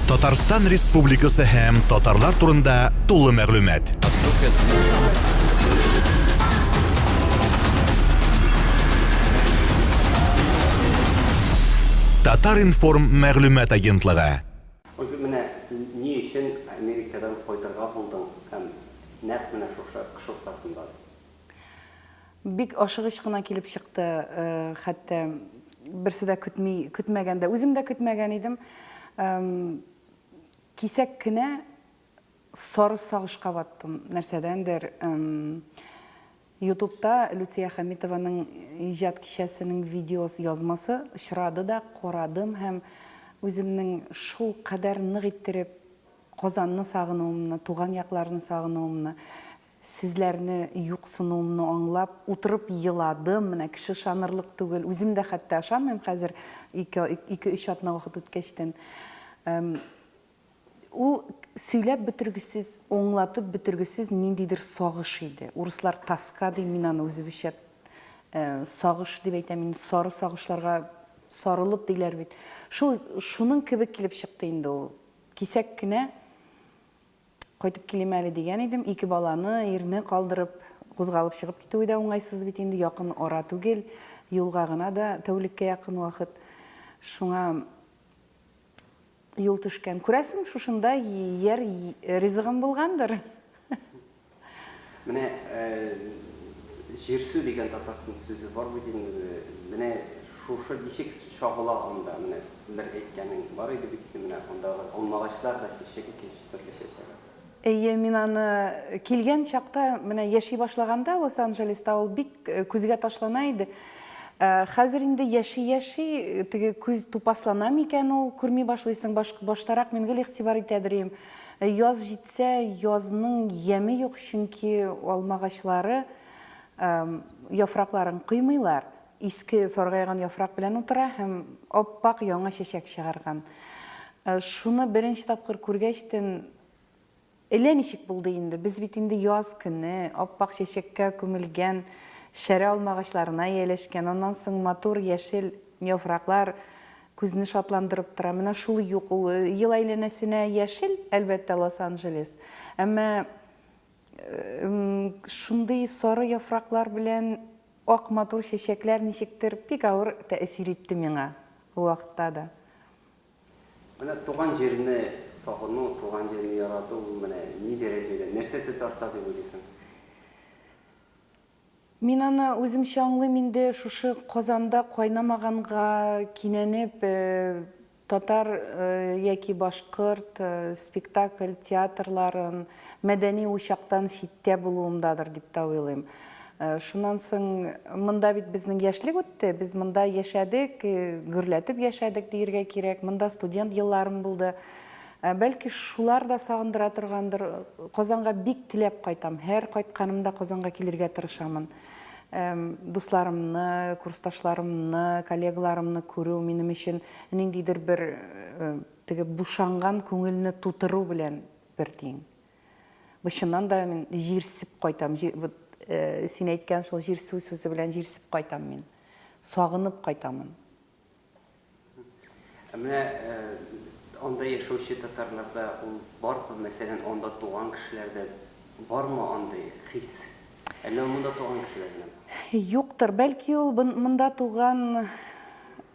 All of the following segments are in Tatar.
Татарстан Республикасы һәм татарлар турында тулы мәгълүмат. Татар-информ мәгълүмат агентлыгы. Менә ни өчен Америкадан кайтырга булдың һәм нәкъ менә шушы кыш уртасында? Бик ашыгыч кына килеп чыкты, хәтта берсе дә көтми, көтмәгәндә, үзем дә көтмәгән идем. Кисәк кенә сары сагышка баттым, нәрсәдәндер. Ютубта Люция Хамитованың иҗат кичәсенең видеосы язмасы очрады да карадым һәм үземнең шул кадәр нык иттереп Казанны сагынуымны, туган якларны сагынуымны, Сезләрне юксынуымны аңлап, утырып еладым, менә кеше ышанырлык түгел, үзем дә хәтта ышанмыйм хәзер, ике, ике-өч атна вакыт үткәчтен. Эм, ул сөйләп бетергесез, аңлатып бетергесез ниндидер сагыш иде. Урыслар тоска ди, мин аны үзебезчә э, сагыш дип әйтәм, мин сары сагышларга сарылып диләр бит. Шул, шуның кебек килеп чыкты инде ул. Кисәк кенә Кайтып килим әле дигән идем. Ике баланы, ирне калдырып, кузгалып чыгып китүе дә уңайсыз бит инде, якын ара түгел, юлга гына да тәүлеккә якын вакыт. Шуңа юл төшкән. Күрәсең, шушында яр ризыгым булгандыр. Менә җирсү дигән татар сүзе бар бит инде. Менә шушы ничек чагыла анда? Менә бер әйткәнең бар иде бит инде, менә андагы алмагачлар да чәчәк икенче төрле чәчәк ата. Әйе, мин аны килгән чакта, менә яши башлаганда Лос-Анджелеста ул бик күзгә ташлана иде. Хәзер инде яши-яши, теге күз тупаслана микән ул, күрми башлыйсың, баштарак мин гел игътибар итәдер идем. Ә яз җитсә, язның яме юк, чөнки алма агачлары яфракларын коймыйлар, иске саргайган яфрак белән утыра һәм ап-ак яңа чәчәк чыгарган. Шуны беренче тапкыр күргәчтен, элә ничек булды инде, без бит инде яз көне, ап-ак чәчәккә күмелгән шәрә алма агачларына ияләшкән, аннан соң матур яшел яфраклар Күзне шатландырып тора. Менә шул юк ул. Ел әйләнәсенә яшел, әлбәттә, Лос-Анджелес. Әмма шундый сары яфраклар белән ак матур чәчәкләр ничектер бик авыр тәэсир итте миңа ул вакытта да. Менә туган җирне сагыну, туган җирне ярату ул менә ни дәрәҗәдә, нәрсәсе тарта дип уйлыйсың? Мин аны үземчә аңлыйм инде, шушы Казанда кайнамаганга кинәнеп, татар яки башкорт спектакль, театрларын, мәдәни учактан читтә булуымдадыр дип тә уйлыйм. Шуннан соң, монда бит безнең яшьлек үтте, без монда яшәдек, гөрләтеп яшәдек диергә кирәк, монда студент елларым булды. Ә бәлки шулар да сагындыра торгандыр? Казанга бик теләп кайтам. Һәр кайтканымда Казанга килергә тырышамын. Дусларымны, курсташларымны, коллегаларымны күрү минем өчен ниндидер бер теге бушанган күңелне тутыру белән бер тиң. Бу чыннан да мин җирсеп кайтам. Вот син әйткән шул җирсү сүзе белән җирсеп кайтам мин. Сагынып кайтамын. Ә менә анда яшәүче татарларда ул бармы? Мәсәлән, анда туган кешеләрдә бармы андый хис? Әллә ул монда туган кешеләр генә бар? Юктыр. Бәлки ул монда туган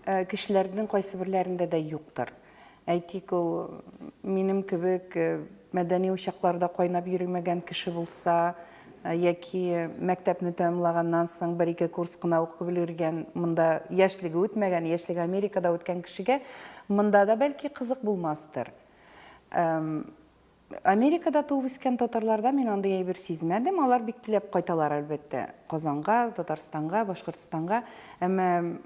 кешеләрнең кайсыберләрендә дә юктыр. Әйтик, ул минем кебек э, мәдәни учакларда кайнап йөримәгән кеше булса, э, яки мәктәпне тәмамлаганнан соң бер-ике курс кына укып өлгергән, монда яшьлеге үтмәгән, яшьлеге Америкада үткән кешегә монда да бәлки кызык булмастыр. Америкада туып үскән татарларда мин андый әйбер сизмәдем. Алар бик теләп кайталар, әлбәттә, Казанга, Татарстанга, Башкортстанга. Әмма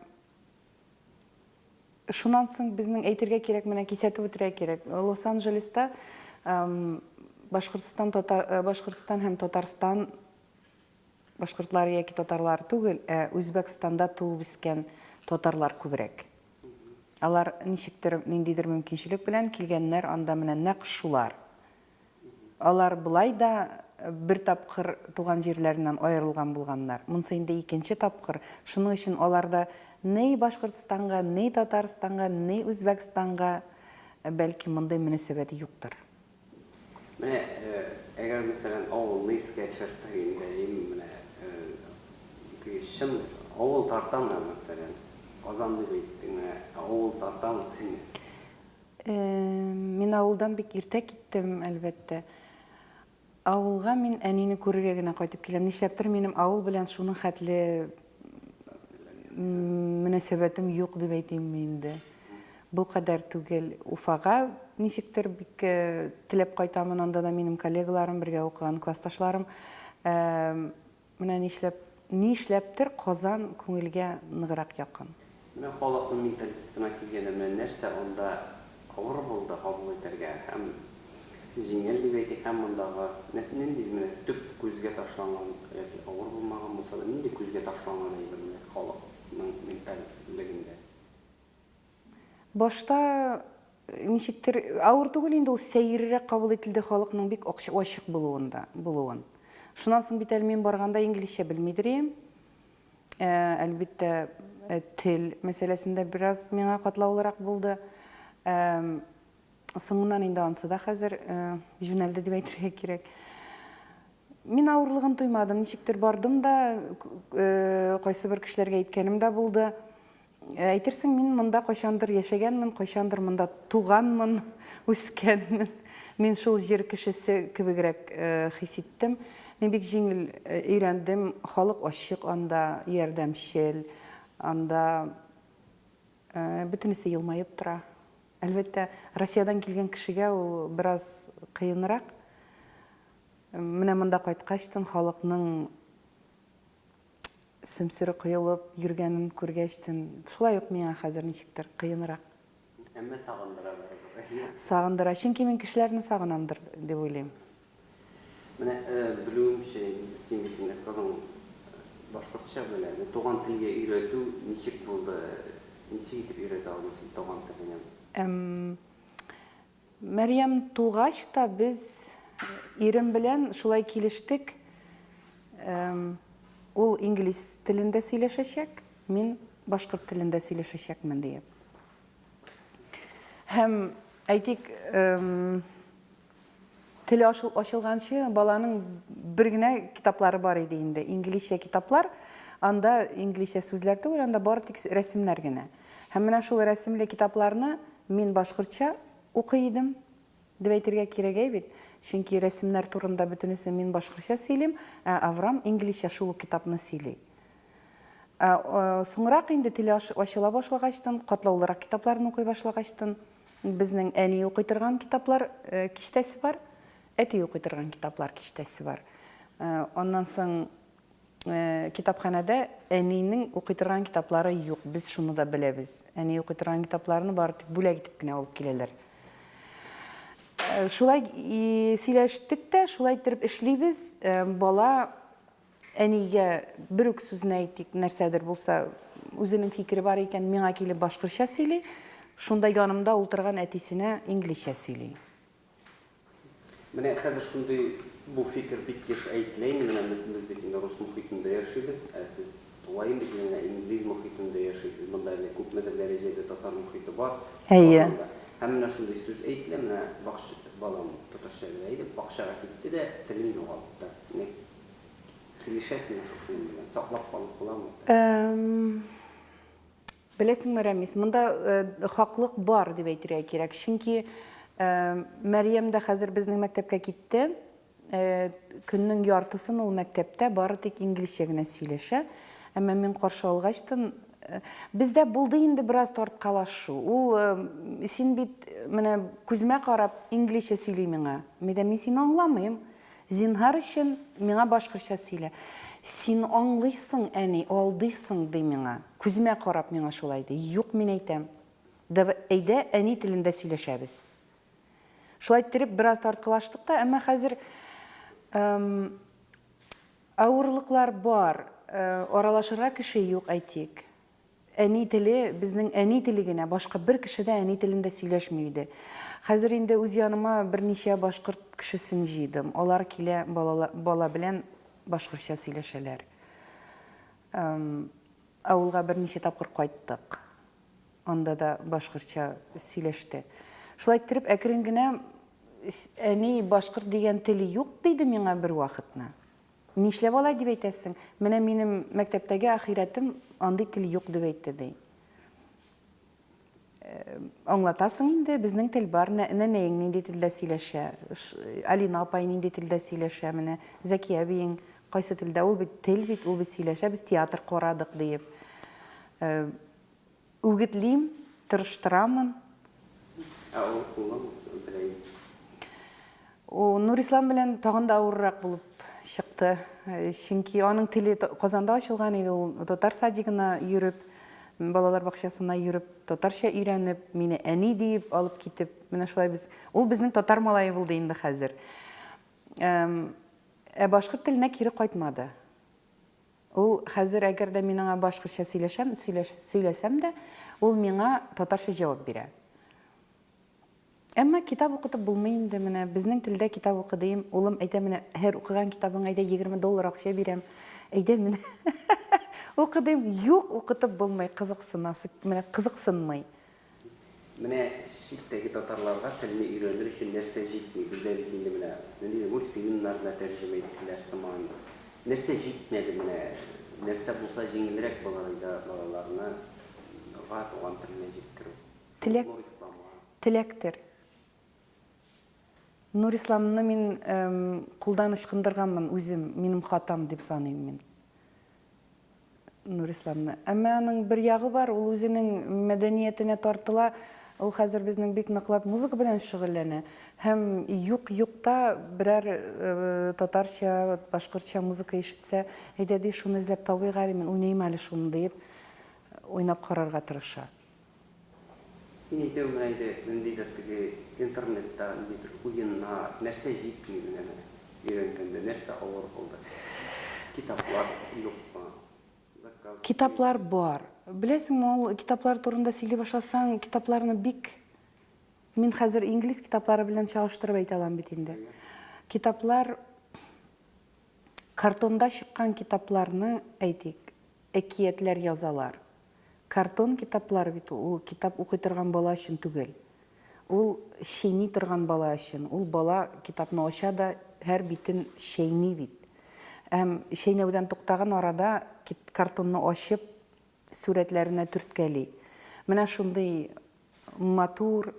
Шуннан соң безнең әйтергә кирәк, менә кисәтеп үтергә кирәк. Лос-Анджелеста Башкортстан, татар, э, Башкортстан һәм Татарстан башкортлары яки татарлар түгел, ә Үзбәкстанда туып үскән татарлар күбрәк. Алар ничектер, ниндидер мөмкинчелек белән килгәннәр, анда менә нәкъ шулар. Алар болай да бер тапкыр туган җирләреннән аерылган булганнар, монсы инде икенче тапкыр, шуның өчен алар да ни Башкортстанга, ни Татарстанга, ни Үзбәкстанга, бәлки, мондый мөнәсәбәт юктыр. Менә әгәр мәсәлән авылны искә төшерсәк инде, ин менә теге чын авыл тартамы мәсәлән, Казан дип әйттең, менә авыл тартамы сине? Мин авылдан бик иртә киттем, әлбәттә. Авылга мин әнине күрергә генә кайтып киләм. Нишләптер минем авыл белән шуның хәтле мөнәсәбәтем юк дип әйтимме инде. Бу кадәр түгел. Уфага ничектер бик э, теләп кайтамын, анда да минем коллегаларым, бергә укыган классташларым. Э, Менә нишләп, нишләптер Казан күңелгә ныграк якын. Менә халыкның менталитетына килгәндә, менә нәрсә анда авыр булды кабул итәргә һәм җиңел дип әйтик, һәм мондагы нәрсә, нинди менә төп күзгә ташланган яки авыр булмаган булса да, нинди күзгә ташланган әйбер менә халыкның менталь легендә? Башта ничектер авыр түгел инде ул сәеррерәк кабул ителде халыкның бик акча ачык булуын да булуын. Шуннан соң бит әле мин барганда инглизчә белмидер ием. Ә, әлбиттә, ә, тел мәсьәләсендә бераз миңа катлаулырак булды. Ә, соңыннан инде ансы да хәзер ә, җүнәлде дип әйтергә кирәк. Мин авырлыгын тоймадым, ничектер бардым да, ә, кайсы бер кешеләргә әйткәнем дә булды. Әйтерсең, мин монда кайчандыр яшәгәнмен, кайчандыр монда туганмын, үскәнмен. Мин шул җир кешесе кебегрәк хис иттем. Мин бик җиңел өйрәндем, халык ачык анда, ярдәмчел, анда бөтенесе елмаеп тора. Әлбәттә, Россиядән килгән кешегә ул бераз кыенрак. Менә монда кайткачтын халыкның сөмсере коелып йөргәнен күргәч тен, шулай ук миңа хәзер ничектер кыенрак. Әмма сагындыра бер. Сагындыра, чөнки мин кешеләрне сагынамдыр дип уйлыйм. Менә белүемчә, син бит инде кызың башкортча белә. Туган телгә өйрәтү ничек булды? Ничек итеп өйрәтә алдың син туган теленә? Эм. Мәрьям тугач та без ирем белән шулай килештек, ул инглиз телендә сөйләшәчәк, мин башкорт телендә сөйләшәчәкмен диеп. Һәм, әйтик, теле ачылганчы баланың бер генә китаплары бар иде инде, инглизчә китаплар, анда инглизчә сүзләр түгел, анда бары тик рәсемнәр генә. Һәм менә шул рәсемле китапларны мин башкортча укый идем, дип әйтергә кирәк, әй бит? Чөнки рәсемнәр турында бөтенесен мин башкортча сөйлим, ә Аврам инглизчә шул ук китапны сөйли. Ә соңрак инде теле ачыла башлагачтын, катлаулырак китапларны укый башлагачтын, безнең әни укый торган китаплар э, киштәсе бар, әти укый торган китаплар киштәсе бар. Э, аннан соң Китапханәдә әнинең укый торган китаплары юк, без шуны да беләбез. Әни укый торган китапларны бары тик бүләк итеп кенә алып киләләр. Шулай сөйләштек тә, шулай иттереп эшлибез. Бала әнигә бер үк сүзне әйтик, нәрсәдер булса, үзенең фикере бар икән, миңа килеп башкортча сөйли, шунда янымда утырган әтисенә инглизчә сөйли. Менә хәзер шундый бу фикер бик еш әйтелә инде, менә без, без бит инде рус мохитендә яшибез, ә сез тулаем бит менә инглиз мохитендә яшисез, монда әле күпмедер дәрәҗәдә татар мохите бар Әйе. Казанда. Һәм менә шундый сүз әйтелә, менә бакч, балам татарча белә иде, бакчага китте дә телен югалтты. Менә килешәсезме шушы белән, саклап калып буламы? Эм. Беләсеңме, Рәмис, монда хаклык бар, дип әйтергә кирәк. Чөнки Мәрьям дә хәзер безнең мәктәпкә китте. Көннең яртысын ул мәктәптә бары тик инглизчә генә сөйләшә. Әмма мин каршы алгач та, бездә булды инде бераз тарткалашу. Ул, син бит, менә күземә карап, инглизчә сөйли миңа. Мин әйтәм, мин сине аңламыйм. Зинһар өчен, миңа башкортча сөйлә. Син аңлыйсың, әни, алдыйсың, ди миңа. Күземә карап миңа шулай ди. Юк, мин әйтәм. Дав, әйдә, әни телендә сөйләшәбез. Шулай иттереп, бераз тарткалаштык та, әмма хәзер эм, авырлыклар бар, э, аралашырга кеше юк, әйтик. Әни теле, безнең әни теле генә, башка бер кеше дә әни телендә сөйләшми иде. Хәзер инде үз яныма берничә башкорт кешесен җыйдым. Алар килә, бала белән башкортча сөйләшәләр. Авылга берничә тапкыр кайттык. Анда да башкортча сөйләште. Шулай иттереп, әкрен генә, әни, башкорт дигән тел юк, диде миңа бервакытны. Нишләп алай дип әйтәсең? Менә минем мәктәптәге ахирәтем андый тел юк дип әйтте, ди. Аңлатасың инде, безнең тел бар, нәнәең нинди телдә сөйләшә, Алина апай нинди телдә сөйләшә, менә Зәки әбиең кайсы телдә, ул бит тел бит, ул бит сөйләшә, без театр карадык, диеп. Үгетлим, тырыштырамын. Ә авыр куллан берәй? У, Нурислам белән тагын да авыррак булып чыкты. Чөнки аның теле Казанда ачылган иде, ул татар садигына йөреп, балалар бакчасына йөреп, татарча өйрәнеп, мине әни диеп алып китеп, менә шулай без, ул безнең татар малае булды инде хәзер. Ә башкорт теленә кире кайтмады. Ул хәзер, әгәр дә мин аңа башкортча сөйләшәм, сөйләсәм дә, ул миңа татарча җавап бирә. Әмма китап укытып булмый инде, менә безнең телдә китап укы дим, улым әйтә, менә һәр укыган китабың әйдә 20 доллар акча бирәм, әйдә менә укы дим, юк, укытып булмый, кызыксынасы, менә кызыксынмый. Менә читтәге татарларга телне өйрәнер өчен нәрсә җитми? Бездә бит инде менә нинди мультфильмнар гына тәрҗемә иттеләр сыман. Нәрсә җитмәде менә? Нәрсә булса җиңелрәк булыр иде балаларны га туган теленә җиткерү? Теләк, Нурисламга. Теләктер. Нурисламны мин кулдан ычкындырганмын үзем, минем хатам дип саныйм мин. Нурисламны. Әмма аның бер ягы бар, ул үзенең мәдәниятенә тартыла. Ул хәзер безнең бик ныклап музыка белән шөгыльләнә. Һәм юк-юкта берәр татарча, башкортча музыка ишетсә, әйдә ди, шуны эзләп табыйк әле, мин уйныйм әле шуны, диеп, уйнап карарга тырыша. Мин әйтәм менә инде ниндидер теге интернетта ниндидер уеннар, нәрсә җитми менә менә өйрәнгәндә, нәрсә авыр булды? Китаплар юкмы? Заказ биреп. Китаплар бар. Беләсеңме, ул китаплар турында сөйли башласаң, китапларны бик Мин хәзер инглиз китаплары белән чагыштырып әйтә алам бит инде. Китаплар картонда чыккан китапларны, әйтик, әкиятләр язалар. Картон китаплар бит ул, ул китап укый торган бала өчен түгел. Ул чәйни торган бала өчен. Ул бала китапны ача да һәр битен чәйни бит. Һәм чәйнәүдән туктаган арада картонны ачып, сурәтләренә төрткәли. Менә шундый матур,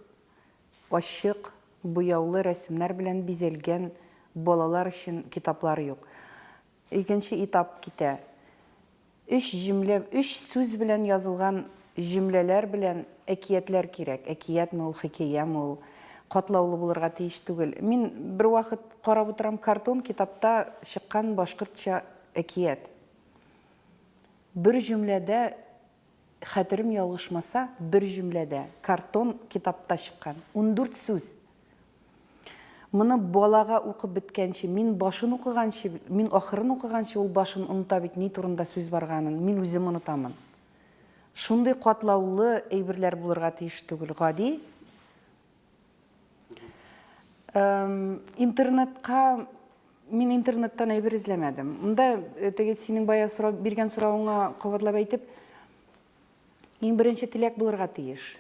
ачык, буяулы рәсемнәр белән бизәлгән балалар өчен китаплар юк. Икенче этап китә. Өч җөмлә, өч сүз белән язылган җөмләләр белән әкиятләр кирәк. Әкиятме ул, хикәяме ул, катлаулы булырга тиеш түгел. Мин бервакыт карап утырам, картон китапта чыккан башкортча әкият. Бер җөмләдә Хәтерем ялгышмаса, бер җөмләдә, картон китапта чыккан, ундүрт сүз! Моны балага укып беткәнче, мин башын укыганчы, мин ахырын укыганчы, ул башын оныта бит, ни турында сүз барганын, мин үзем онытамын. Шундый катлаулы әйберләр булырга тиеш түгел, гади. Интернетка мин интернеттан әйбер эзләмәдем. Монда э, теге синең бая сорап биргән соравыңа кабатлап әйтеп, иң беренче теләк булырга тиеш.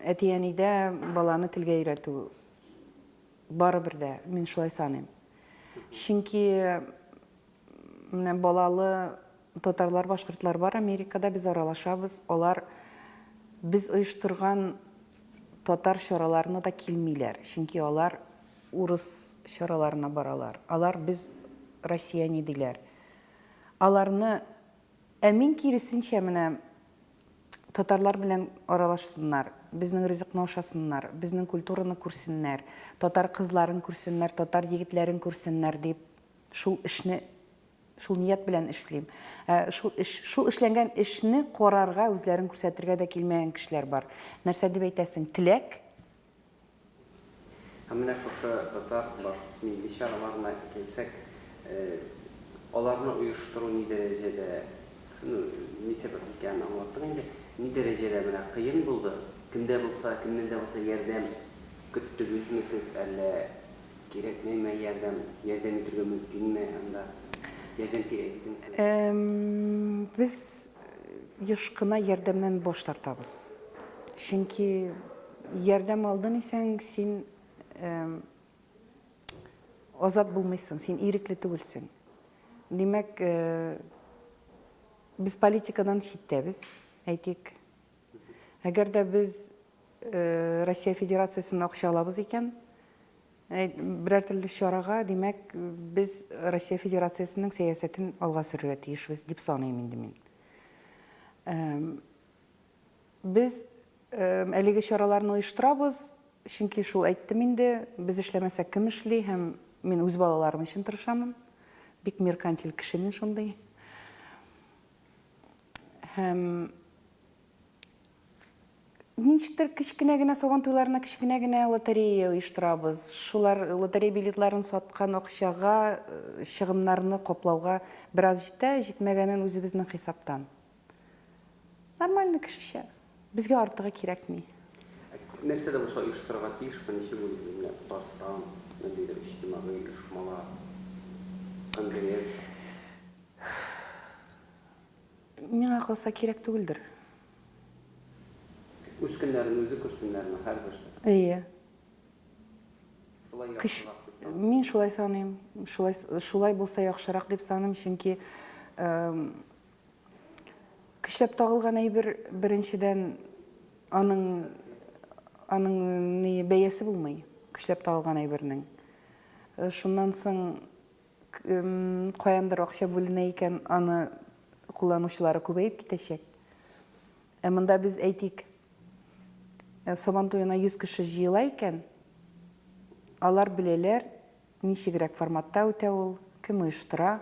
Әти-әнидә баланы телгә өйрәтү барыбер дә, мин шулай саныйм. Чөнки Менә балалы татарлар, башкортлар бар Америкада, без аралашабыз, алар без оештырган татар чараларына да килмиләр, чөнки алар урыс чараларына баралар, алар без россияне диләр. Аларны, ә мин киресенчә менә татарлар белән аралашсыннар, безнең ризыкны ашасыннар, безнең культураны күрсеннәр, татар кызларын күрсеннәр, татар егетләрен күрсеннәр дип Шул эшне шул ният белән эшлим. Ә шул эш, шул эшләнгән эшне карарга, үзләрен күрсәтергә дә килмәгән кешеләр бар. Нәрсә дип әйтәсең? Теләк? Һәм менә шушы татар, башкорт милли чараларына килсәк, аларны оештыру ни дәрәҗәдә, ну, ни сәбәп икәнен аңлаттың инде, ни дәрәҗәдә менә кыен булды? Кемдә булса, кемнән дә булса ярдәм көттегезме сез, әллә Кирәкмәйме ярдәм? Ярдәм итергә мөмкинме анда? Ярдәм кирәк бит инде соң. Без еш кына ярдәмнән баш тартабыз. Чөнки ярдәм алдын исәң, син азат булмыйсың, син ирекле түгелсең. Димәк, без политикадан читтәбез, әйтик. Әгәр дә без Россия Федерациясеннән акча алабыз икән, берәр төрле чарага, димәк, без Россия Федерациясенең сәясәтен алга сөрергә тиешбез, дип саныйм инде мин. Без әлеге чараларны оештырабыз, чөнки шул әйттем инде, без эшләмәсәк кем эшли һәм мин үз балаларым өчен тырышамын. Бик меркантиль кеше мин шундый. Һәм ничектер кечкенә генә сабан туйларына кечкенә генә лотерея оештырабыз. Шулар лотерея билетларын саткан акчага э, чыгымнарны каплауга бераз җитә, җитмәгәнен үзебезнең хисаптан. Нормально кешечә. Безгә артыгы кирәкми. Нәрсә дә булса оештырырга тиешме, ничек уйлыйсыз? Менә Татарстан, ниндидер иҗтимагый оешмалар, конгресс. Миңа калса, кирәк түгелдер. Үз көннәрен үзе күрсеннәрме, һәрберсе? Әйе. Шулай яхшырак дип саныйсың? Мин шулай саныйм. Шулай, шулай булса яхшырак дип саныйм, чөнки көчләп тагылган әйбер, беренчедән, аның, аның ни, бәясе булмый, көчләп тагылган әйбернең. Шуннан соң, Каяндыр акча бүленә икән, аны кулланучылары күбәеп китәчәк. Ә монда без, әйтик, Сабан туена 100 кеше җыела икән, алар беләләр, ничегрәк форматта үтә ул, кем оештыра,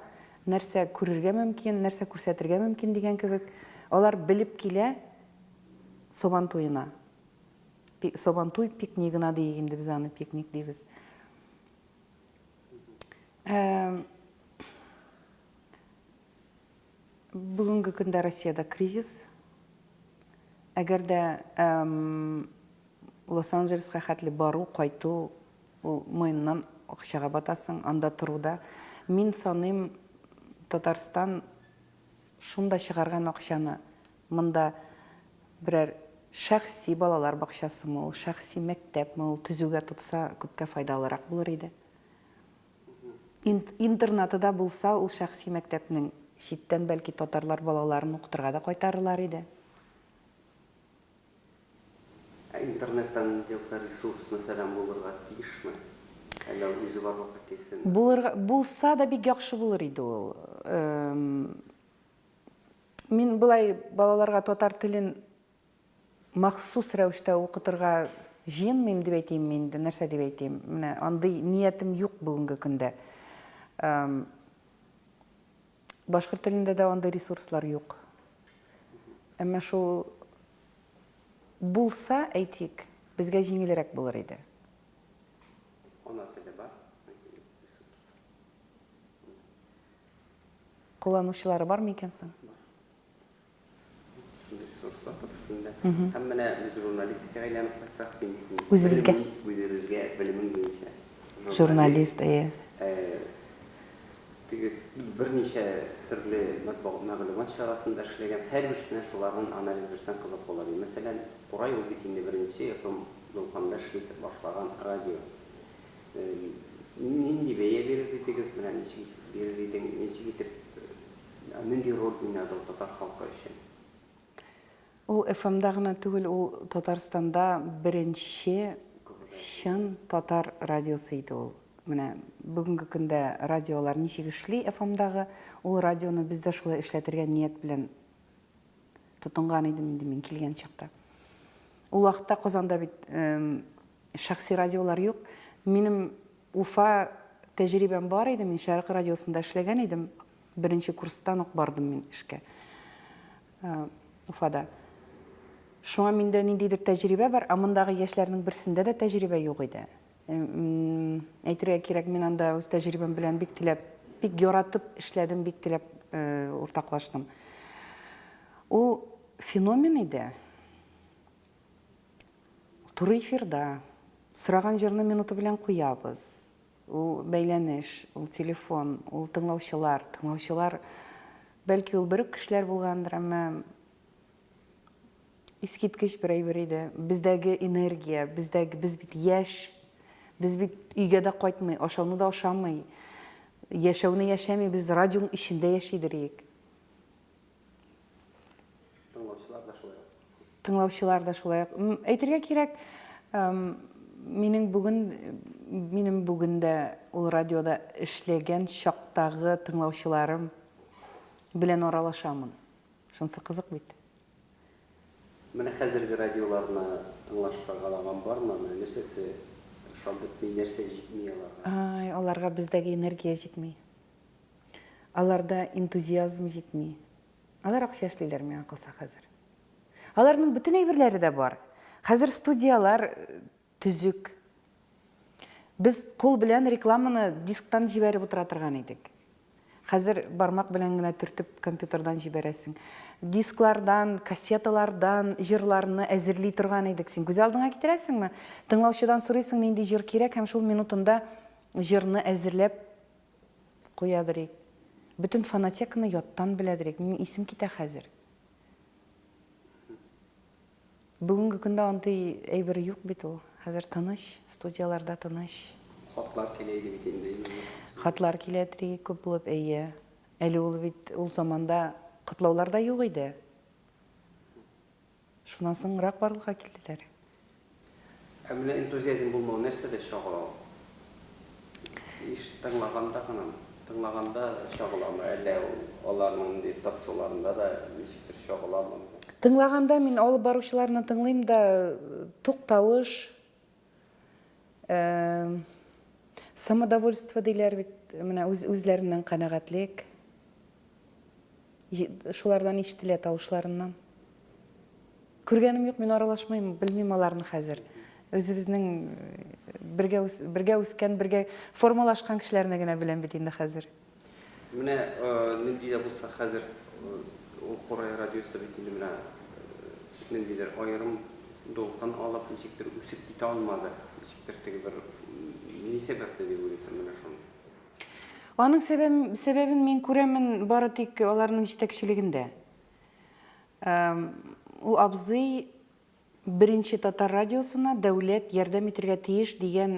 нәрсә күрергә мөмкин, нәрсә күрсәтергә мөмкин дигән кебек. Алар белеп килә Сабан туена. Сабантуй пикнигына диик инде без аны, пикник дибез. Бүгенге көндә Россиядә кризис. Әгәр дә Лос-Анджелеска хәтле бару, кайту, ул муеннан акчага батасың, анда тору да. Мин саныйм, Татарстан шунда чыгарган акчаны Монда берәр шәхси балалар бакчасымы ул, шәхси мәктәпме ул төзүгә тотса, күпкә файдалырак булыр иде. Интернаты да булса, ул шәхси мәктәпнең читтән, бәлки, татарлар балаларын укытырга да кайтарырлар иде. Ә интернеттан инде юкса ресурс, мәсәлән, булырга тиешме? Әллә ул үзе барлыкка килсен? Булырга, булса да бик яхшы булыр иде ул. Мин болай балаларга татар телен махсус рәвештә укытырга җыенмыйм дип әйтимме инде, нәрсә дип әйтим, менә андый ниятем юк бүгенге көндә. Башкорт телендә дә андый ресурслар юк. Әмма шул булса, әйтик, безгә җиңелрәк булыр иде. Ана теле бар. Кулланучылары бармы икән соң? Һәм менә без журналистикага әйләнеп кайтсак, син бит үзебезгә, үзебезгә белемең буенча журналист, әйе. Теге берничә төрле матбугат мәгълүмат чарасында эшләгән, һәрбер эшенә шуларның анализ бирсәң кызык була бит. Мәсәлән, Курай ул бит инде беренче FM дулкынында эшли башлаган радио. Нинди бәя бирер идегез, менә ничек итеп бирер идең, ничек итеп, нинди роль уйнады ул татар халкы өчен? Ул ФМда гына түгел, ул Татарстанда беренче чын татар радиосы иде ул. Менә бүгенге көндә радиолар ничек эшли ФМдагы, ул радионы без дә шулай эшләтергә ният белән тотынган идем инде мин килгән чакта. Ул вакытта Казанда бит шәхси радиолар юк. Минем Уфа тәҗрибәм бар иде, мин Шәрык радиосында эшләгән идем. Беренче курстан ук бардым мин эшкә. Уфада. Шуңа миндә ниндидер тәҗрибә бар, ә мондагы яшьләрнең берсендә дә тәҗрибә юк иде. Әйтергә кирәк, мин анда үз тәҗрибәм белән бик теләп, бик яратып эшләдем, бик теләп уртаклаштым. Ул феномен иде. Туры эфирда сораган җырны минуты белән куябыз. Ул бәйләнеш, ул телефон, ул тыңлаучылар, тыңлаучылар бәлки ул бер үк кешеләр булгандыр, әмма Искиткеч бер әйбер иде. Бездәге энергия, бездәге, без бит яшь. Без бит өйгә дә кайтмый, ашауны да ашамый. Яшәүне яшәми, без радионың эчендә яши дириек. Тыңлаучылар да шулай ук. Тыңлаучылар да шулай ук. Әйтергә кирәк, минем бүген, минем бүген дә ул радиода эшләгән чактагы тыңлаучыларым белән аралашамын. Шунысы кызык бит. Менә хәзерге радиоларны тыңлаш кагала-ган бармы, менә нәрсәсе ошап бетми, нәрсә җитми аларга? Ай, аларга бездәге энергия җитми. Аларда энтузиазм җитми. Алар акча эшлиләр, миңа калса, хәзер. Аларның бөтен әйберләре дә бар. Хәзер студияләр Төзек. Без кул белән рекламаны дисктан җибәреп утыра торган идек. Хәзер бармак белән генә төртеп компьютердан җибәрәсең. Дисклардан, кассеталардан җырларны әзерли торган идек. Син күз алдыңа китерәсеңме? Тыңлаучыдан сорыйсың, нинди җыр кирәк, һәм шул минутында җырны әзерләп куядыр ик. Бөтен фонотеканы яттан беләдер ик. Минем исем китә хәзер. Бүгенге көндә андый әйбер юк бит ул. Хәзер тыныч, студияләрдә тыныч. Хатлар килә иде бит инде, иминлек көнне. Хатлар килә дри, күп булып, әйе. Әле ул бит, ул заманда котлаулар да юк иде. Шуннан соңрак барлыкка килделәр. Ә менә энтузиазм булмау нәрсәдә чагыла ул? Еш тыңлаганда гынамы? Тыңлаганда чагыламы, әллә ул аларның ниндидер тапшыруларында да ничектер чагыламы бу? Тыңлаганда мин алып баручыларны тыңлыйм да, туктавыш, самодовольство диләр бит, менә үзләреннән канәгатьлек, Шулардан ишетелә тавышларыннан. Күргәнем юк, мин аралашмыйм, белмим аларны хәзер. Үзебезнең бергә бергә үскән, бергә формалашкан кешеләрне генә беләм бит инде хәзер. Менә нинди дә булса хәзер ул Курай радиосы бит инде менә ниндидер аерым дулкын алып, ничектер үсеп китә алмады. Ничектер теге бер ни сәбәпле дип уйлыйсың менә шуны? Аның сәбәбен мин күрәмен бары тик аларның җитәкчелегендә. Ул абзый беренче татар радиосына дәүләт ярдәм итергә тиеш дигән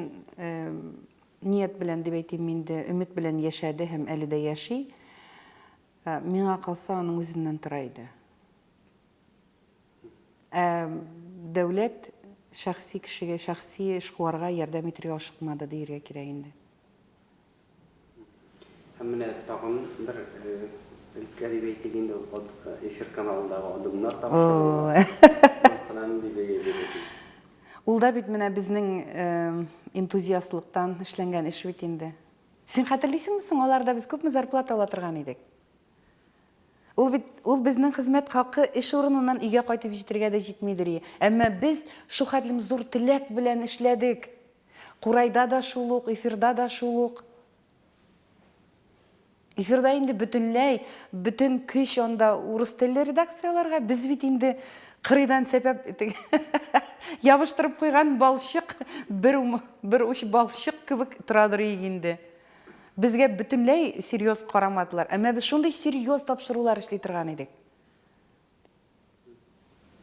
ният белән дип әйтим инде, өмет белән яшәде һәм әле дә яши. Миңа калса, аның үзеннән тора иде. Ә дәүләт шәхси кешегә, шәхси эшкуарга ярдәм итергә ашыкмады диергә кирәк инде. Һәм менә тагын бер өлкә дип әйтик инде, ул катык эфир каналындагы адымнар тапшыруы. Ул да бит менә безнең энтузиастлыктан эшләнгән эш бит инде. Син хәтерлисеңме соң, аларда без күпме зарплата ала торган идек? Ул бит ул безнең хезмәт хакы эш урыныннан өйгә кайтып җитергә дә җитмидер и. Әмма без шухәтлем зур теләк белән эшләдек. Курайда да шул ук, эфирда да шул ук. Эфирда инде бөтенләй, бөтен көч анда урыс телле редакцияләргә. Без бит инде кырыйдан сәпәп ябыштырып куйган балчык, бер бер уч балчык кебек торадыр ик инде. Безгә бөтенләй серьёз карамадылар, әмма без шундый серьёз тапшырулар эшли торган идек.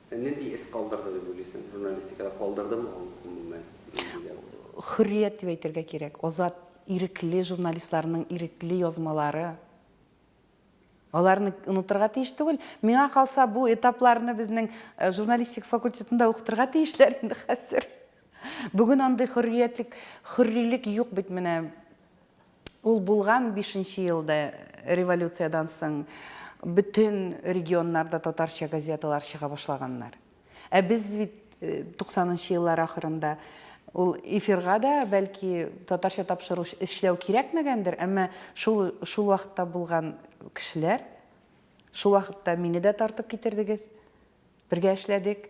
Ә нинди эз калдырды дип уйлыйсың? Журналистикада калдырдымы ул гомумән? Нигә ул? Хөррият дип әйтергә кирәк. Азат, ирекле журналистларның ирекле язмалары. Аларны онытырга тиеш түгел. Миңа калса, бу этапларны безнең э, журналистик факультетында укытырга тиешләр инде хәзер. Бүген андый хөрриятлек, хөррилек юк бит менә. Ул булган 5 елда революциядән соң бөтен регионнарда татарча газеталар чыга башлаганнар. Ә без бит 90 нчы еллар ахырында ул эфирга да бәлки татарча тапшыру эшләү кирәкмәгәндер, әмма шул шул вакытта булган кешеләр, шул вакытта мине дә тартып китердегез, бергә эшләдек.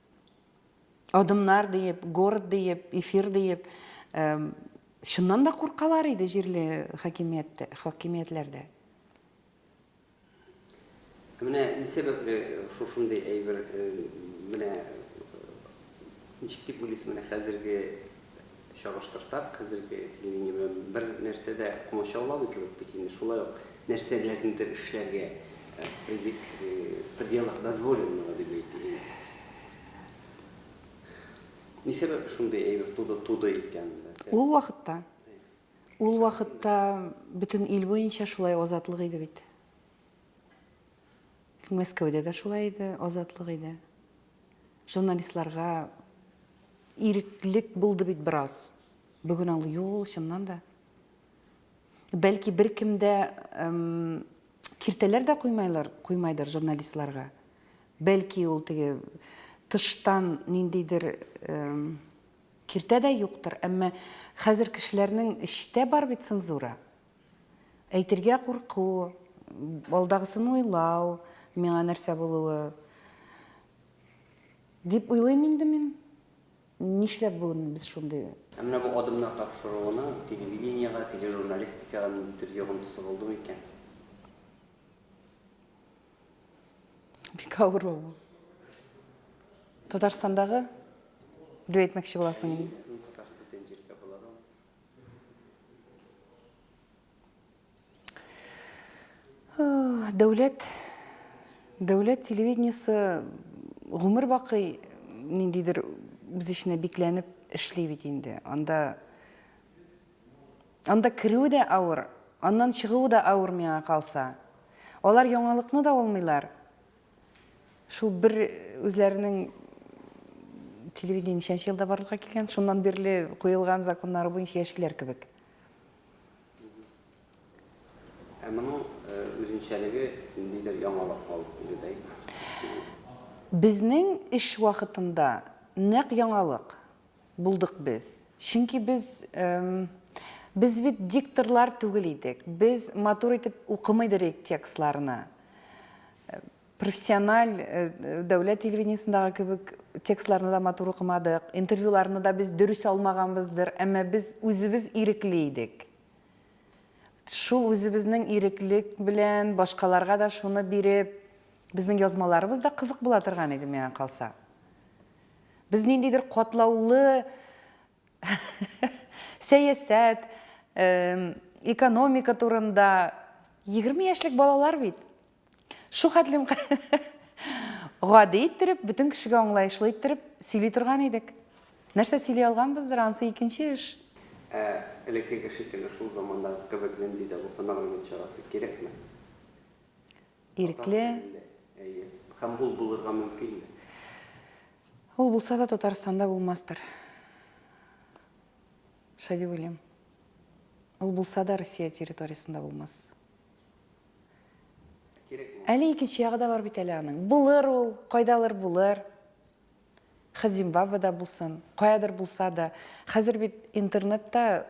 Адымнар диеп, город диеп, эфир диеп, чыннан да куркалар иде җирле хакимият хакимиятләрдә. Менә ни сәбәпле шушындый әйбер менә ничек дип уйлыйсыз, менә хәзерге Чагыштырсак, хәзерге телевидение белән бер нәрсә дә комачауламый кебек бит инде, шулай ук нәрсәләрнедер эшләргә в пределах дозволенного дип әйтик инде. Ни сәбәп шундый әйбер туды туды икән? Ул вакытта, ул вакытта бөтен ил буенча шулай азатлык иде бит. Мәскәүдә дә шулай иде, азатлык иде. Журналистларга иреклек булды бит бераз. Бүген аңлый юл, чыннан да. Бәлки беркем дә киртәләр дә куймайлар, куймайдыр журналистларга. Бәлки ул теге тыштан ниндидер киртә дә юктыр, әмма хәзер кешеләрнең эчтә бар бит цензура. Әйтергә курку, алдагысын уйлау, миңа нәрсә булуы дип уйлыйм инде мин. Нишләп бүген без шундый. Ә менә бу адымнар тапшыруына телевидениегә, тележурналистикага ниндидер йогынтысы булдымы икән? Бик авыр ул. Татарстандагы дип әйтмәкче буласың. Мин Татарстан җиркә буларым. Дәүләт дәүләт телевидениесе гомер бакый ниндидер үз эченә бикләнеп эшли бит инде. Анда анда керү дә авыр, аннан чыгу да авыр миңа калса. Алар яңалыкны да алмыйлар, Шул бер үзләренең телевидение ничәнче елда барлыкка килгән, шуннан бирле куелган законнары буенча яшиләр кебек. Ә моның э, үзенчәлеге ниндидер яңалык алып килүдәй? Безнең эш вакытында нәкъ яңалык. Булдык без. Чөнки без, без бит дикторлар түгел идек. Без матур итеп укымыйдыр идек текстларны. Профессиональ дәүләт телевидениесендагы кебек текстларны да матур укымадык, интервьюларны да без дөрес алмаганбыздыр, әмма без үзебез ирекле идек. Шул үзебезнең иреклек белән башкаларга да шуны биреп, безнең язмаларыбыз да кызык була торган иде миңа калса. Без ниндидер катлаулы сәясәт, экономика турында, егерме яшьлек балалар бит. Шу хәтлем гади иттереп, бөтен кешегә аңлаешлы иттереп сөйли торган идек. Нәрсә сөйли алганбыздыр, анысы икенче эш. Ә элеккеге шикелле шул замандагы кебек нинди дә булса мәгълүмат чарасы кирәкме? Ирекле. Әйе. Һәм ул булырга мөмкинме? Ул булса да Татарстанда булмастыр. Шулай дип уйлыйм. Ул булса да Россия территориясендә булмас. Әле икенче ягы да бар бит әле аның. Булыр ул, кайдалыр булыр. Хәт Зимбабведа булсын, каядыр булса да. Хәзер бит интернетта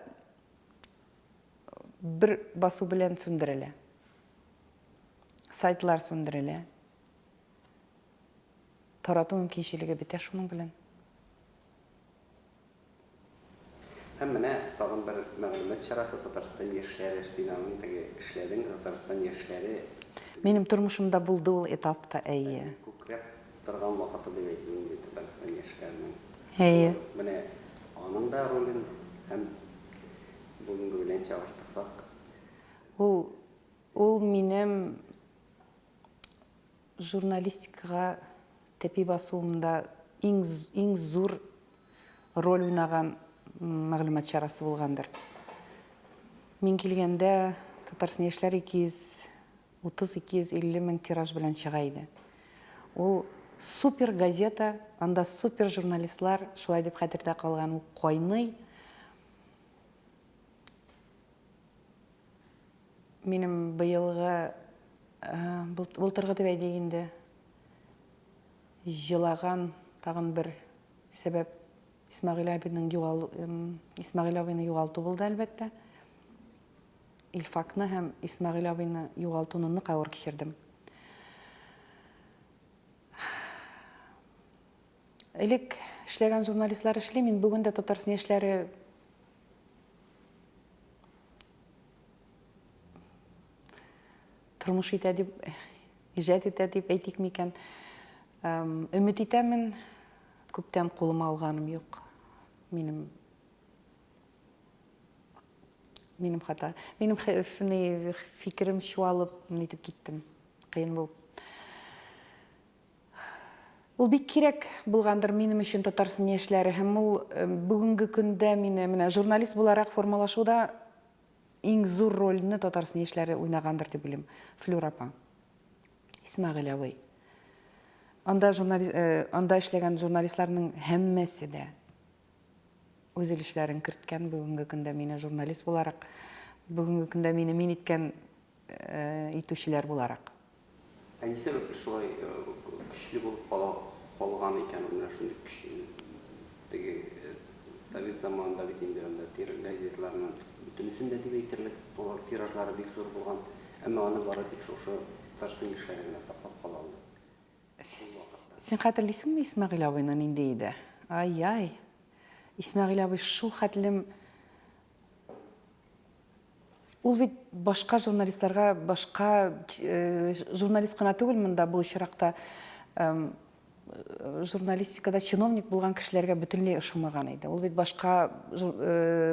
Бер басу белән сүндерелә. Сайтлар сүндерелә. Тарату мөмкинчелеге бетә шуның белән. Һәм менә тагын бер мәгълүмат чарасы, Татарстан яшьләре сыйнавын теге эшләдең, Татарстан яшьләре. Минем тормышымда булды ул этап та, әйе. Күкрәп торган вакыты дип әйтик инде Татарстан яшьләренең. Әйе. Менә аның да ролен һәм. Бүгенге белән чагыштырсак. Ул, ул минем журналистикага тәпи басуымда иң, иң зур роль уйнаган мәгълүмат чарасы булгандыр. Мин килгәндә Татарстан яшьләр 230-250 мең тираж белән чыга иде. Ул супер газета, анда супер журналистлар, шулай дип хәтердә калган, ул кайный. Минем быелгы былтыргы дип әйтик инде җылаган тагын бер сәбәп Исмәгыйль абыйның югал Исмәгыйль абыйны югалту булды әлбәттә. Илфакны һәм Исмәгыйль абыйны югалтуны нык авыр кичердем. Элек эшләгән журналистлар эшли, мин бүген дә Татарстан яшьләре тормыш итә дип, иҗат итә дип әйтик микән. Өмет итәмен, күптән кулыма алганым юк. Минем минем хата. Минем фикерем чуалып, нитеп киттем. Кыен булып. Ул бик кирәк булгандыр минем өчен Татарсын яшьләре һәм ул бүгенге көндә мине менә журналист буларак формалашуда иң зур рольне Татарсын яшьләре уйнагандыр дип уйлыйм. Флюр апа, Исмәгыйль абый. Анда журналист анда эшләгән журналистларның һәммәсе дә үз өлешләрен керткән бүгенге көндә мине журналист буларак, бүгенге көндә мине мин иткән итүчеләр буларак. Ни сәбәпле шулай көчле булып кала калган икән ул менә шундый көч теге совет заманында бит инде анда тир газетларның бөтенесен дә дип әйтерлек алар тиражлары бик зур булган, әмма аны бары тик шушы Татарстан яшьләре генә саклап кала алды шул вакытта. Син хәтерлисеңме Исмәгыйль абыйны нинди иде? Ай-яй! Исмәгыйль абый шул хәтлем Ул бит башка журналистларга, башка журналист кына түгел монда бу очракта, журналистикада чиновник булган кешеләргә бөтенләй ошамаган иде. Ул бит башка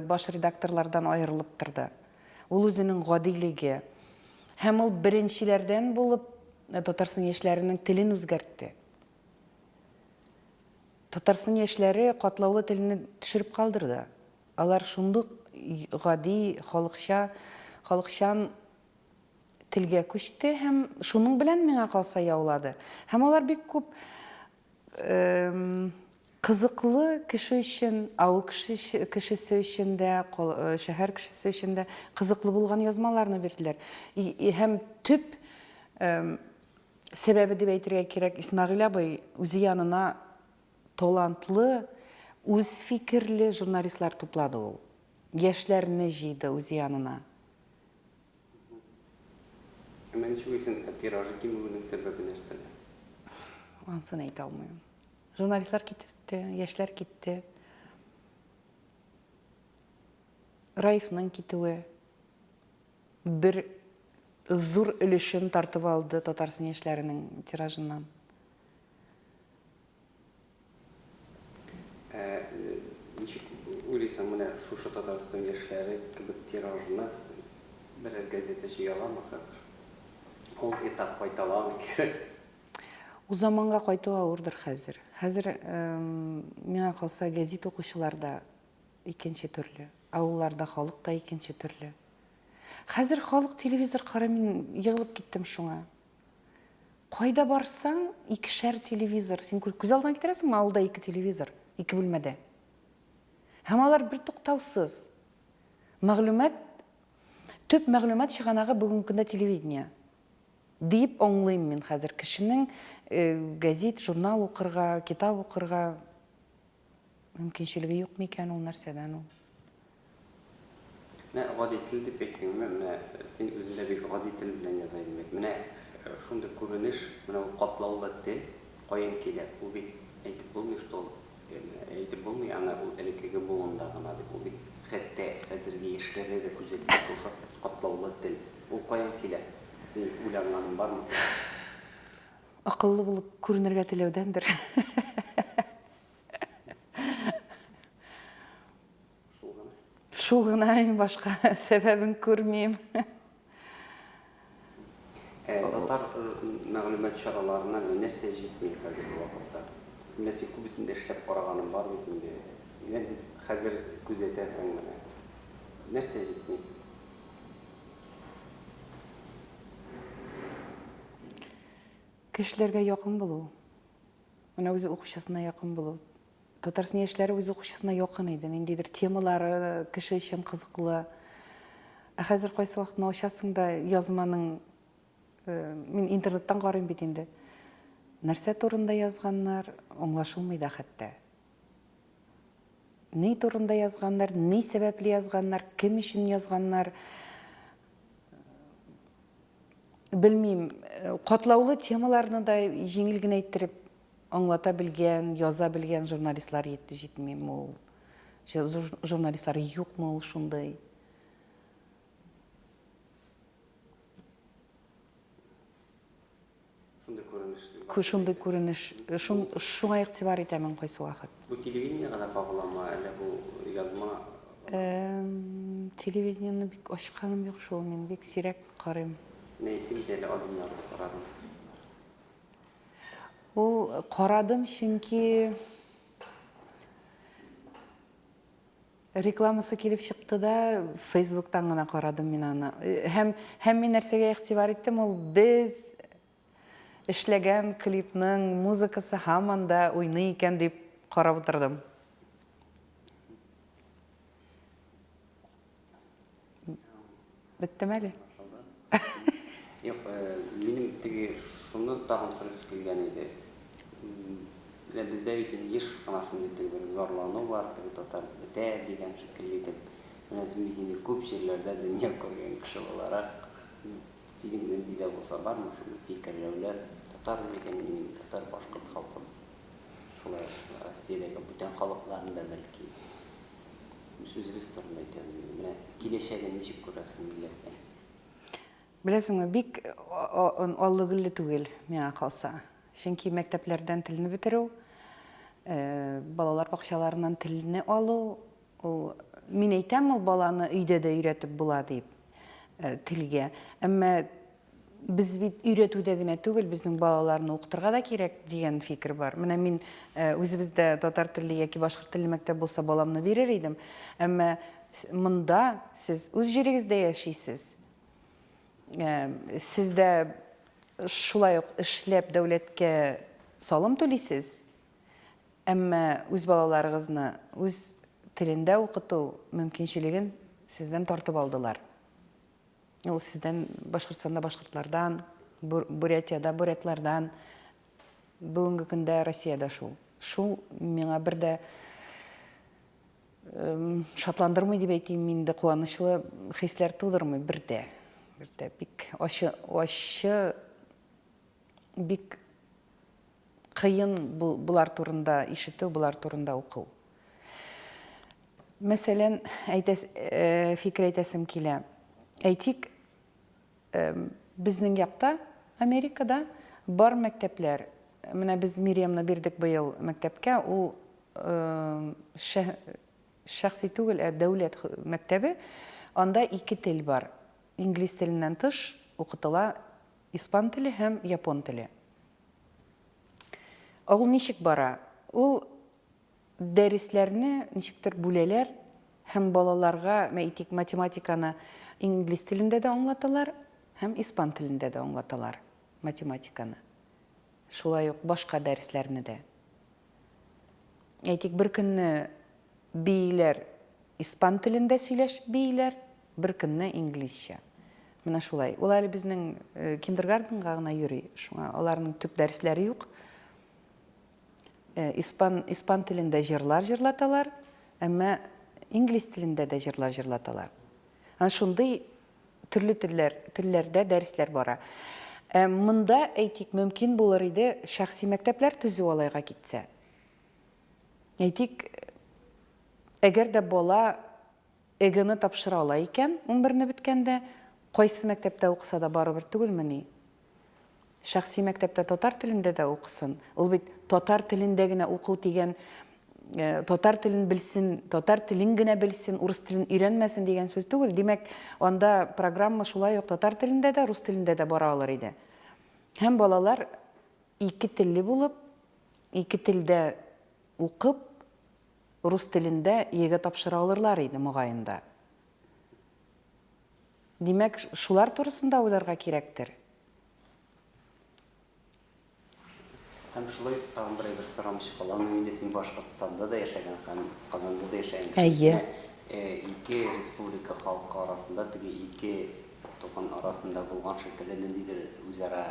баш редакторлардан аерылып торды. Ул үзенең гадилеге. Һәм ул беренчеләрдән булып Татарстан яшьләренең телен үзгәртте. Татарстан яшьләре катлаулы телне төшереп калдырды. Алар шундук гади, халыкча, халыкчан телгә күчте һәм шуның белән, миңа калса, яулады. Һәм алар бик күп кызыклы кеше өчен, авыл кешесе өчен дә, шәһәр кешесе өчен дә кызыклы булган язмаларны бирделәр. Һәм төп сәбәбе дип әйтергә кирәк, Исмәгыйль абый үзе янына Талантлы, үзфикерле журналистлар туплады ул. Яшьләрне җыйды үз янына. Әмма ничек уйлыйсың, ә тиражы кимүенең сәбәбе нәрсәдә? Ансын әйтә алмыйм. Журналистлар китте, яшьләр китте. Раифның китүе бер зур өлешен тартып алды Татарстан яшьләренең тиражыннан. Ә ничек уйлыйсың, менә шушы Татарстан яшьләре кебек тиражны берәр газета җыя аламы хәзер? Ул этап кайталамы кире? Ул заманга кайту авырдыр хәзер. Хәзер, миңа калса, гәзит укучылар да икенче төрле, авылларда халык та икенче төрле. Хәзер халык телевизор карый, мин егылып киттем шуңа. Кайда барсаң, икешәр телевизор. Син күз алдына китерәсеңме, авылда ике телевизор, ике бүлмәдә. Һәм алар бертуктаусыз. Мәгълүмат, төп мәгълүмат чыганагы бүгенге көндә телевидение. Диеп аңлыйм мин хәзер кешенең газет, журнал укырга, китап укырга Мөмкинчелеге юк микән ул, нәрсәдән ул? Менә гади тел дип әйттеңме, менә син үзең дә бик гади тел белән яза идең бит. Менә шундый күренеш, менә ул катлаулы тел каян килә? Ул бит әйтеп булмый, что ул, әйтеп булмый, аны ул элеккеге буында гына дип. Ул бит хәтта хәзерге яшьләрдә дә күзәтелә шушы катлаулы тел. Ул каян килә? Синең уйланганың бармы? Акыллы булып күренергә теләүдәндер. Шул гына иң башка сәбәбен күрмим. Э, татар э, мәгълүмат чараларына нәрсә җитми хәзерге вакытта? Нәрсә күбесен дә эшләп караганым бар бит инде. Менә бит хәзер күзәтәсең менә. Нәрсә җитми? Кешеләргә якын булу. Менә үз укучысына якын булу. Татарстан яшьләре үз укучысына якын иде. Ниндидер темалары кеше өчен кызыклы. Ә хәзер кайсы вакытны ачасың да язманың э, мин интернеттан карыйм бит инде. Нәрсә турында язганнар, аңлашылмый да хәтта. Ни турында язганнар, ни сәбәпле язганнар, кем өчен язганнар, белмим, катлаулы темаларны да җиңел генә иттереп аңлата белгән, яза белгән журналистлар җитмиме ул? Журналистлар юкмы ул шундый? Шундый күренеш дип Ку, шундый күренеш, шун, шуңа игътибар итәмен кайсы вакыт. Бу телевидениегә дә кагыламы, әллә бу язма гына? Эм, телевидениене бик ачканым юк шул, мин бик сирәк карыйм. Менә әйттем бит әле, адымнарны карадым. Ул, карадым, чөнки. Рекламасы килеп чыкты да, фейсбуктан гына карадым мин аны. Һәм, һәм мин нәрсәгә игътибар иттем, ул без эшләгән клипның музыкасы һаман да уйный икән дип карап утырдым. Беттеме әле? Юк, э, минем теге шуны тагын сорыйсы килгән иде. Менә бездә бит инде еш кына шундый теге бер зарлану бар, теге татар бетә дигән шикелле итеп. Менә син бит инде күп җирләрдә дөнья күргән кеше буларак, синең нинди дә булса бармы шундый фикерләүләр, татар микән мин, татар башкорт халкы, шулай Россиядәге бүтән халыкларны да бәлки Сүзебез турында әйтәбез инде. Менә киләчәген ничек күрәсең милләтнең? Беләсеңме, бик аллы-гөлле түгел, миңа калса. Чөнки мәктәпләрдән телне бетерү, балалар бакчаларыннан телне алу, ул мин әйтәм, ул баланы өйдә дә өйрәтеп була дип, телгә. Әмма Без бит өйрәтүдә генә түгел, безнең балаларны укытырга да кирәк дигән фикер бар. Менә мин э, үзебездә татар телле яки башкорт телле мәктәп булса баламны бирер идем. Әмма монда сез үз җирегездә яшисез. Э, Сездә шулай ук эшләп дәүләткә салым түлисез. Әмма үз балаларыгызны үз телендә укыту мөмкинчелеген сездән тартып алдылар. Ул сездән Башкортстанда башкортлардан, Бурятиядә бурятлардан, бүгенге көндә Россиядә шул. Шул миңа бер дә шатландырмый дип әйтим, инде куанычлы хисләр тудырмый бер дә. Бер дә бик ачы, ачы бик кыен булар турында ишетү, булар турында укыл. Мәсәлән, әйтәс, фикер әйтәсем килә. Әйтик, безнең якта, Америкада, бар мәктәпләр. Менә без Мириямны бирдек быел мәктәпкә, ул шәхси түгел, ә дәүләт мәктәбе. Анда ике тел бар. Инглиз теленнән тыш укытыла испан теле һәм япон теле. Ул ничек бара? Ул Дәресләрне ничектер бүләләр һәм балаларга, әйтик, математиканы инглиз телендә дә аңлаталар һәм испан телендә дә аңлаталар математиканы. Шулай ук башка дәресләрне дә. Әйтик, беркөнне бииләр испан телендә сөйләшеп бииләр, беркөнне инглизчә. Менә шулай. Ул әле безнең э, киндергарденга гына йөри, шуңа аларның төп дәресләре юк. Э, испан, испан телендә җырлар җырлаталар, әмма инглиз телендә дә җырлар җырлаталар. Ан шундый төрле телләр, телләрдә дәресләр бара. Ә монда, әйтик, мөмкин булыр иде шәхси мәктәпләр төзү алайга китсә. Әйтик, әгәр дә бала ЕГЭны тапшыра ала икән, унберне беткәндә, кайсы мәктәптә укыса да барыбер түгелмени? Шәхси мәктәптә татар телендә дә укысын. Ул бит татар телендә генә уку дигән, татар телен белсен, татар телен генә белсен, урыс телен өйрәнмәсен дигән сүз түгел. Димәк, анда программа шулай ук татар телендә дә, рус телендә дә бара алыр иде. Һәм балалар ике телле булып, ике телдә укып, Рус телендә Е-гә тапшыра алырлар иде, мөгаен да. Димәк, шулар турысында уйларга кирәктер. Һәм шулай ук тагын бер әйбер сорамыйча каламын инде, син Башкортстанда да яшәгән һәм Казанда да яшәгән кеше. Әйе. Ике республика халкы арасында, теге ике туган арасында булган шикелле ниндидер үзара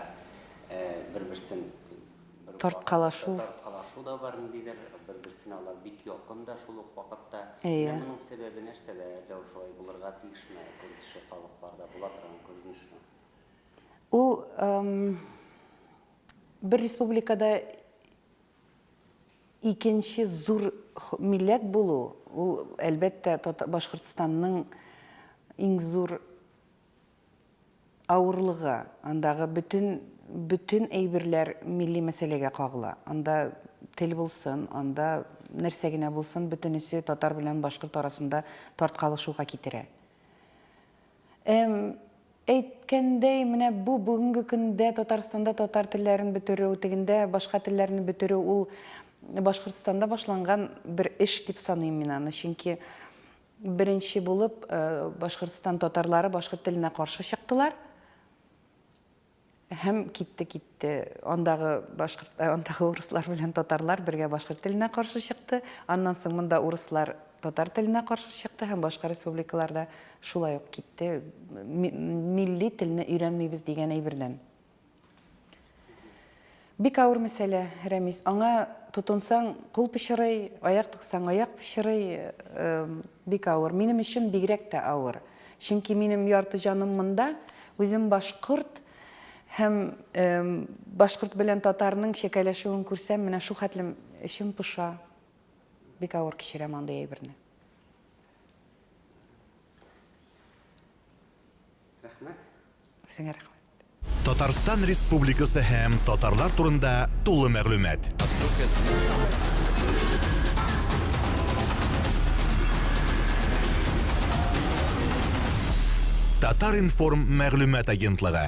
бер-берсен. тарткалашу. Тарткалашу да бар ниндидер, бер-берсенә алар бик якын да шул ук вакытта. Әйе. Менә моның сәбәбе нәрсәдә? Әллә ул шулай булырга тиешме? Көн кеше халыкларда була торган күренешме? Ул бер республикада икенче зур милләт булу, ул, әлбәттә, Башкортстанның иң зур Авырлыгы, андагы бөтен, бөтен әйберләр милли мәсьәләгә кагыла. Анда тел булсын, анда нәрсә генә булсын, бөтенесе татар белән башкорт арасында тарткалышуга китерә. Ә әйткәндәй, менә бу бүгенге көндә Татарстанда татар телләрен бетерү, тегендә башка телләрне бетерү, ул Башкортстанда башланган бер эш дип саныйм мин аны, чөнки Беренче булып Башкортстан татарлары башкорт теленә каршы чыктылар һәм китте китте. Андагы башкорт андагы урыслар белән татарлар бергә башкорт теленә каршы чыкты. Аннан соң монда урыслар татар теленә каршы чыкты һәм башка республикаларда шулай ук китте. Милли телне өйрәнмибез дигән әйбердән. Бик авыр мәсьәлә, Рәмис. Аңа тотынсаң, кул пычырый, аяк тыксаң, аяк пычырый. Бик авыр. Минем өчен бигрәк тә авыр. Чөнки минем ярты җаным монда. Үзем башкорт һәм башкорт белән татарның чәкәләшүен күрсәм, менә шул хәтлем эчем поша. Бик авыр кичерәм андый әйберне. Рәхмәт. Сиңа рәхмәт. Татарстан Республикасы һәм татарлар турында тулы мәгълүмат. Татар-информ мәгълүмат агентлыгы.